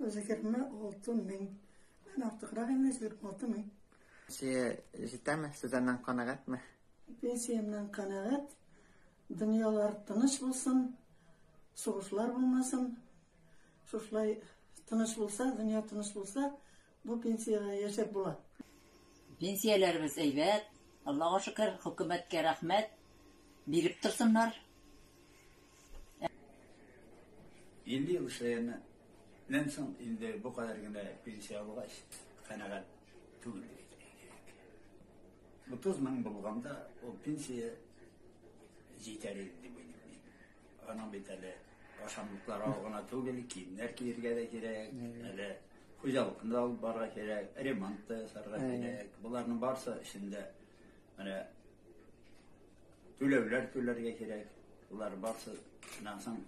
Үзегерме алтын мең. Мен артыграк инде сизеп алты мең. Сие җитәме? Сез аннан канәгатьме? Пенсиямнан канәгать. Дөньялар тыныч булсын, сугышлар булмасын. Шушылай тыныч булса, дөнья тыныч булса, Бу пенсиягә яшәп була. Пенсияләребез әйбәт, Аллага шөкер, хөкүмәткә рәхмәт, биреп торсыннар. 50 ел эшләгәннән соң инде бу кадәр генә пенсия алгач, канәгать түгел. 30 мең булганда, ул пенсия җитәр иде дип Аның бит әле ашамлыклар алу гына түгел, киемнәр киергә дә кирәк, әле хуҗалыкны да алып барырга кирәк, ремонт та ясарга кирәк. Боларның барысы эчендә менә түләүләр түләргә кирәк. Болар барысы шуннан соң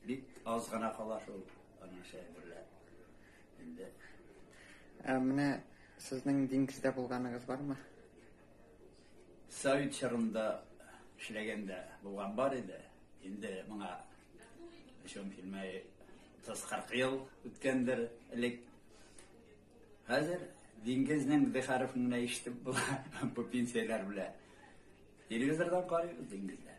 бик аз гына кала шул аның шәһәр берлә. Инде Ә менә сезнең диңгездә булганыгыз бармы? Совет чорында эшләгәндә булган бар иде. Инде моңа шуның килмәй 30-40 ел үткәндер элек. Хәзер диңгезнең дихарыфын гына ишетеп була бу пенсияләр белән. Телевизордан карыйбыз диңгезләр.